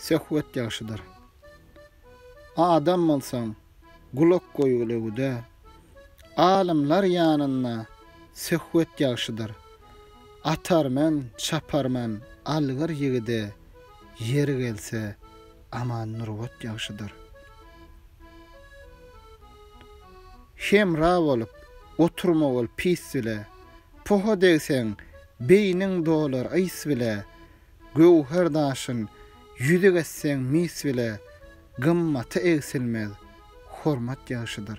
Söhbet ýagşydyr. Adam bolsaň, gulak goýgulewüde. Alymlar ýanynda söhbet ýagşydyr. Atarmen, çaparmen algyr ýigide, ýeri gelse, Aman Nurbat ýagşydyr. Hemra bolup, oturma bol pis dile. Poha degseň, beýniň dolar ys bile, Göwher daşyn ýüzük etseň mis bile, Gymmaty egsilmez hormat ýagşydyr.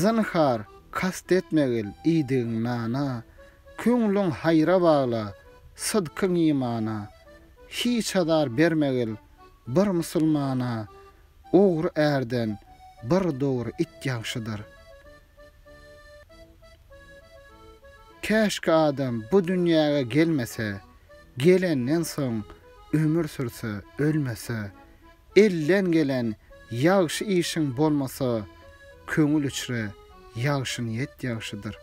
Zynhar, kast etmegil iýdigiň nana, Köňlüň haýra bagla, sydkyň imana, Hiç azar bermegil bir musulmana, Ogry ärden bir dogry it ýagşydyr. Käşki adam bu dünýäge gelmese, gelenden soň ömür sürse, ölmese, elden gelen ýagşy işiň bolmasa, köňül içre ýagşynyýet ýagşydyr.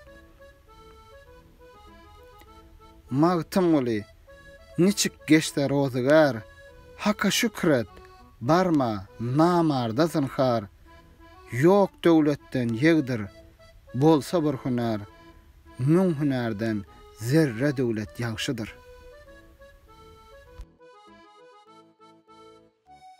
Magtymguly, Niçik geçse rozygär, Haka şükür et, barma, namarda zynhar. Ýok döwletden ýegdir, bolsa bir hünär, Müň hünärden zerre döwlet ýagşydyr.